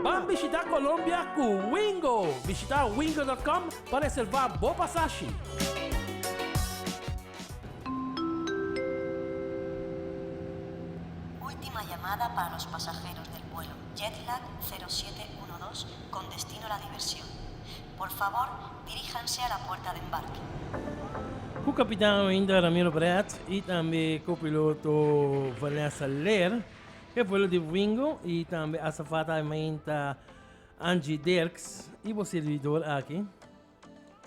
Ban bishita Colombia cu Wingo! Bishita wingo dot com pa reserva bo pasashi. Ultima llamada para los pasajeros del vuelo Jetlag zero siete uno dos con destino La Diversión. Por fabor, diríjanse a la puerta de embarque. Ku kapitan ainda Ramiro Brett i tambe ku piloto Vanessa Leer, e vuelo di Wingo i tambe asafata Aimainta Angie Dirks i bo servidor aki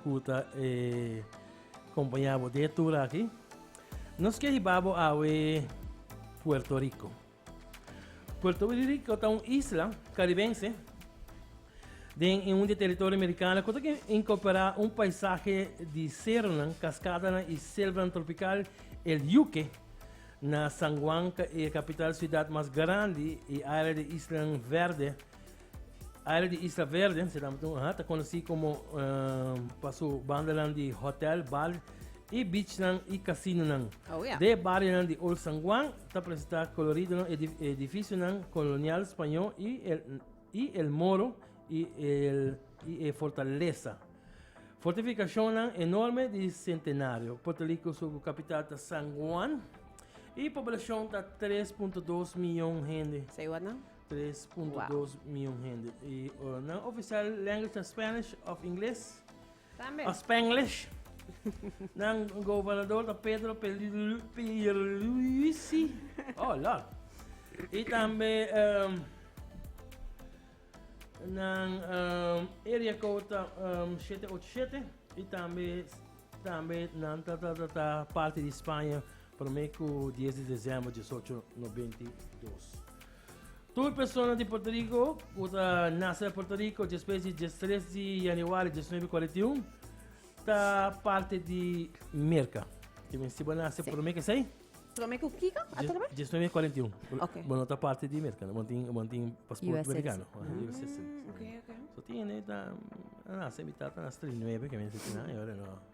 ku ta e kompañá bo den e tur aki, nos ke hiba bo awe Puerto Riko. Puerto Rico ta un isla karibense den un di territorio amerikano ku ta inkorporá un paisaje di seronan, kaskadanan i selvanan tropikal, El Yuque. Na San Juan, e kapital siudat mas grandi i área di islanan verde. Área di Isla Verde, se dam tun, ta konosí komo pa su bandanan di hòtèl, bar i beachnan i kasinonan. Oh, ya. De barionan di Old San Juan ta presentá kolorido edifisionan kolonial spañó i el i el moro i el i e fortalesa. Fortifikashonnan enorme di Sentenario. Puerto Rico su kapital ta San Juan i poblashon ta tres punto dos miyon hende. Say what now? 3.2 mion hende. Y uh, nan oficial language ta Spanish of English? También. Of Spanglish? nan gobernador ta Pedro Pierluisi. Oh, lord. Y también um, nan um, area code ta um, 787 y también también nan ta, ta, ta, ta parte de España Prome ku dies di desèmber di disocho nobenta i dos. Tur persona di Portoriko ku ta nase na Portoriko despues di dies tres di yanüari dies nuebe kuarenta i un ta parti di Merka. Te mester si bo a nase prome ku esei? Prome ku kiko? Atrobe? Dies nuebe kuarenta i un. Ok. Bo no ta parti di Merka, bo tin bo tin pasport US Merikano. citizen. US citizen. Ok, ok. So tin hende ta a nase mi tata a nase tres di nuebe ke mi a nase tin nan e ora no.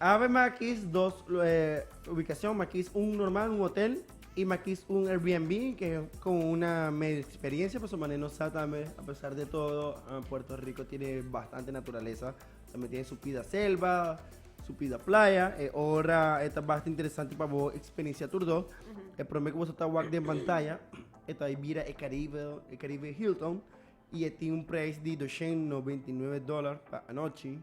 Awe makis dos ubicacion, makis un normal, un hotel y makis un Airbnb que con una medio experiencia paso mane no sa tambe a pesar de todo Puerto Rico tiene bastante naturaleza, tambe tiene su pida selva, su pida playa e ora e ta basta interesante pa bo experiencia tur do. E prome que bo sa ta wak den pantaya e ta bira e Caribe, e Caribe Hilton y e tin un prijs di doshen noventa y nueve dollar pa anochi.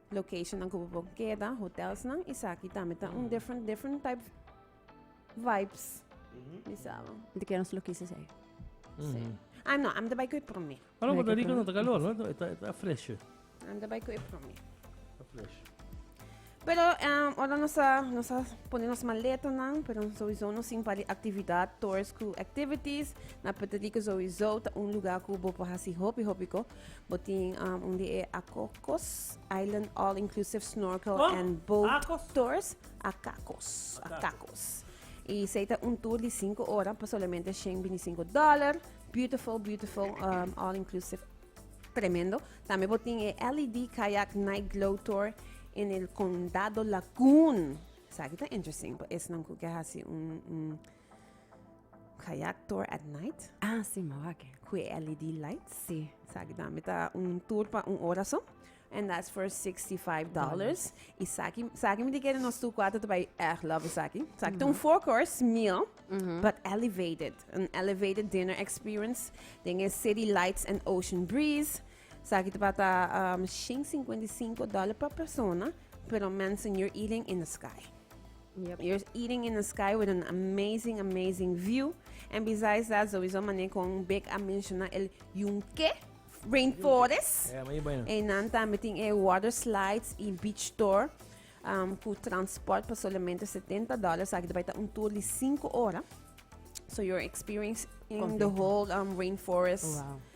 Locationnan ku bo por keda, hotelsnan, esaki tambe ta un different, different type vibes. Mi sabo. Di ken nos lo kis esei? Sí. Ah, no, am ta bai ku e promé. Ah, no, Puerto Rico no ta kalor, no? E ta, e ta fresho. Am ta bai ku e promé. Ta fresho. Pero um, ora nos a, nos a pone nos maletanan, pero sowieso nos sin pali aktividat, tours ku activities. Na Puerto Rico sowieso ta un lugar ku bo por hasi hopi hopi ko. Bo tin um, un di e Acocos Island All Inclusive Snorkel Kom? and Boat Acos? Tours. Acacos. Acacos. Y sei ta un tour di 5 ora pa solamente 125 dollar. Beautiful, beautiful, um, all inclusive. Tremendo. También bo tin e LED Kayak Night Glow Tour en el Condado Lagoon. Sa ki ta interesting pa esnan ku ke hasi un, un Kayak tour at night. Ah si mou aki. Ku e LED lights. Si. Sa aki tambe ta un tour pa un ora so. And that's for $65. Dollars. I sa aki, sa aki mi di kere nos tur kuater ta bai erg love sa aki. Sa aki ta un four course meal, but elevated. An elevated dinner experience den e city lights and ocean breeze. Sa aki tabata um shen singkwenta i singko dòler pa persona, pero mensen you're eating in the sky. Yep, you're eating in the sky with an amazing, amazing view. And besides that, sowieso mané kon Bek a menciona el Yunque Rainforest. Yeah, muy bueno. En dan también tin e water slides y beach tour. Um, cu transport por solamente 70 dólares. Aquí te un tour de 5 horas. So you're experiencing the Completo. whole um, rainforest. Wow.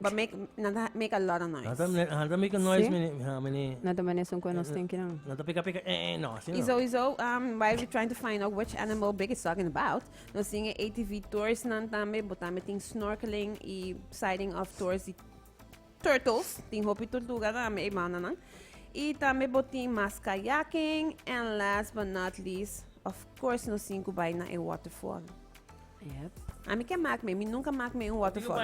But make, nan ta make a lot of noise. Nata, mene- ah, nata make a noise, Sí. mene, ha, mene. Na ta mene son kue nos ten kinan. Nata pika pika, eh, eh, no, así Iso, no. iso, um, while we're trying to find out which animal Big is talking about, nos tin e ATV tours nan tambe, bo tambe tin snorkeling y sighting of tours di turtles, tin hopi tortuga tambe e bandanan. Y tambe bo tin mas kayaking, and last but not least, of course nos tin ku bai na e waterfall. Yep. A mi ke mak me, mi nunka mak me un waterfall.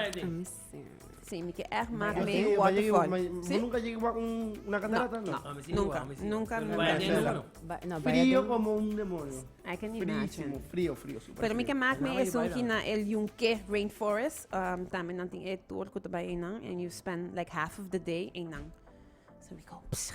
Sí, mi ke echt mak me un waterfall. Sí? Nunka jegi mak un una catarata, no? Nunka, nunka, nunka. No, frio como un demonio. I can imagine. Frio, frio, super Pero mi ke mak me es un na el yunke rainforest, um, tambe nan tin e tour ku ta bai einan and you spend like half of the day einan. So we go, psha.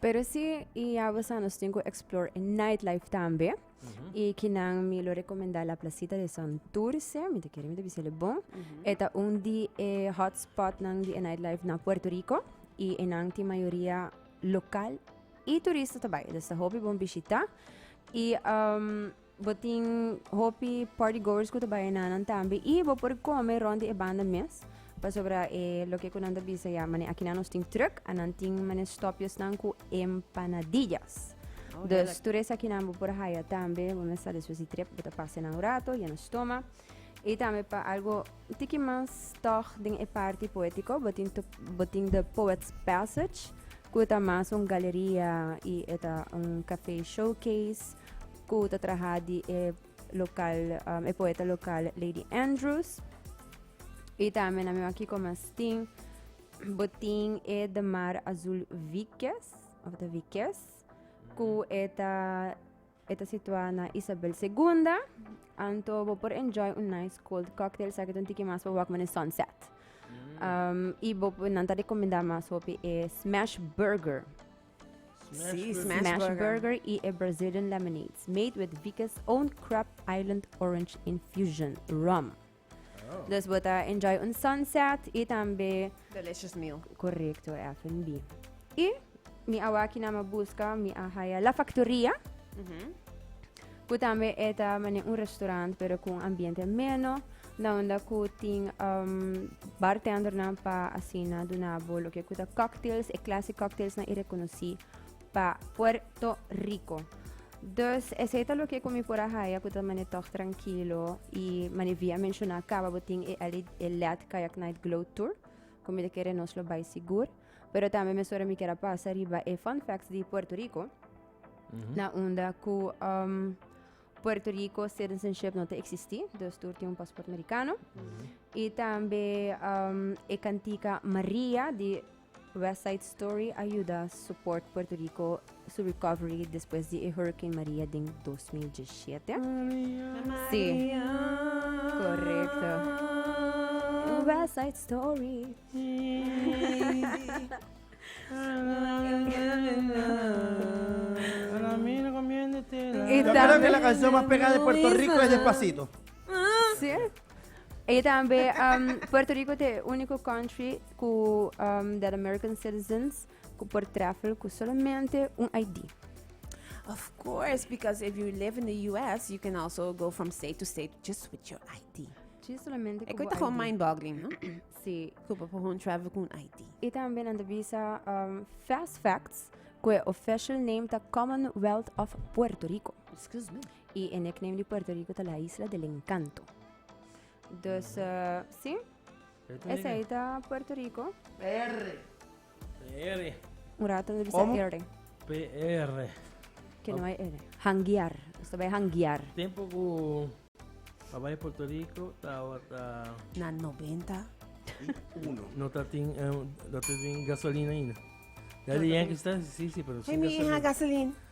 Pero si y ya we sa nos tin cu explore e night life tambe. Y kinan mi lo recomenda la placita de Santurce, mi te kere mi te bisa le bon. Eta un di e hotspot nan di e night life na Puerto Rico y enan tin mayoria local y turista ta bai. Dus ta hopi bon bishita y Bo tin hopi party goers ku ta bai enanan tambe i bo por kome rond di e banda mes pasobra e loke ku nan ta bisa ya mane akinan nos tin truk a nan tin mane stopjesnan ku empanadillas dus tur esakinan bo por haya tambe bo mes sa despues di trip bo ta pasa enan un rato yena stoma. Y tambe pa algo un tiki mas toch den e parti poético, botin, to, botin The Poet's Passage, cu ta mas un galeria y eta un café showcase, cu ta traha di e local, um, e poeta local Lady Andrews. Y tambe na mi wak kiko mas tin, botin e The Mar Azul Vikes, of the Vikes, cu eta E ta situá na Isabel Segunda, anto bo por enjoy un nice cold cocktail sa ke ta un tiki mas pa wak mane sunset. Um, i bo por- nan ta rekomendá mas hopi e smash burger. Sí, Smash Smash Burger. burger i e Brazilian lemonades made with Vika's own Crab Island orange infusion rum. Dus bo ta enjoy un sunset y tambe Delicious meal. correcto F&B. Y mi awaki na me busca mi a haya La Factoria, cu tambe eta mane un restaurant pero cu un ambiente ameno, na unda cu tin um, bartendernan pa asina dunabo loke cu ta cocktails, e clase cocktails na y reconoci pa Puerto Rico. Dus esei ta loke ku mi por a haya ku ta mane tòg trankilo i mane via menshona kaba bo tin e LED Kayak Night Glow Tour ku mi ta kere nos lo bai sigur. Pero tambe mesora mi kier a pasa riba e fun facts di Puerto Rico. Na unda ku um, Puerto Rico citizenship no te existi, dus tur tin un pasport americano. I tambe um, e kantika Maria di West Side Story a yuda support Puerto Rico su recovery despues di e Hurricane Maria den dos mil diesshete. Si, korekto. West Side Story. I Yo creo que la tambe canción más pegada de Puerto Rico es Despacito. si. E tambe um, Puerto Rico ta e único country ku dal American citizens ku por travel ku solamente un ID. Of course, because if you live in the US, you can also go from state to state just with your ID. Sí, solamente Ik ku weet bo gewoon ID. mind-boggling, no? Sí. Ku pa gewoon travel kun ID. Y también anda bisa um, Fast Facts, que official name ta Commonwealth of Puerto Rico. Excuse me. Y el nickname de Puerto Rico ta la Isla del Encanto. Dus, eh, sí, Esei ta Puerto Rico. PR. PR. Un rato no bisa R. PR. Que no hay R. Hanguear. Usted vai hanguear. Tempo cu Hawaii Puerto Rico tawa ta... Na 90. Uno. No ta tin, eh, no ta tin gasolina ainda. Ya di Yankees ta, sí, sí, pero sin gasolina. Hey, mi hija, gasolina.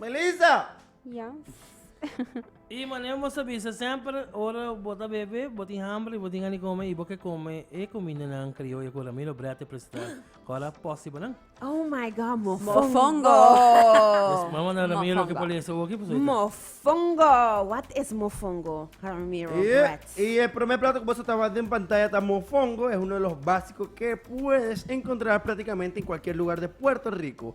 Melissa! Yes. Y mané bo ta bisa semper ora bo ta bebe, bo tin hamber y bo tin gan di come y bo ke come e comindanan crioyo cu Ramiro Brea ta presenta. Cora posi bo nan. Oh my God, mofongo! Mofongo! Vamos manda Ramiro mofongo. por lesa oki pasobra. Mofongo! Wat is mofongo, Ramiro Bret? Y, y e prome plato cu boso ta wak den pantaya ta mofongo. Es uno de los basico ke puedes encontrar practicamente en cualkier lugar de Puerto Rico.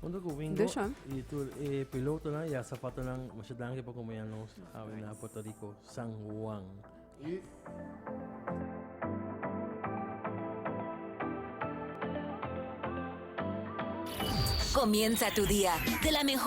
Junto cu Wingo Desha. y tur e pilotonan y a zapatonan, masha danki por acompaña nos awe na Puerto Rico, San Juan. Y Comienza tu día de la mejor.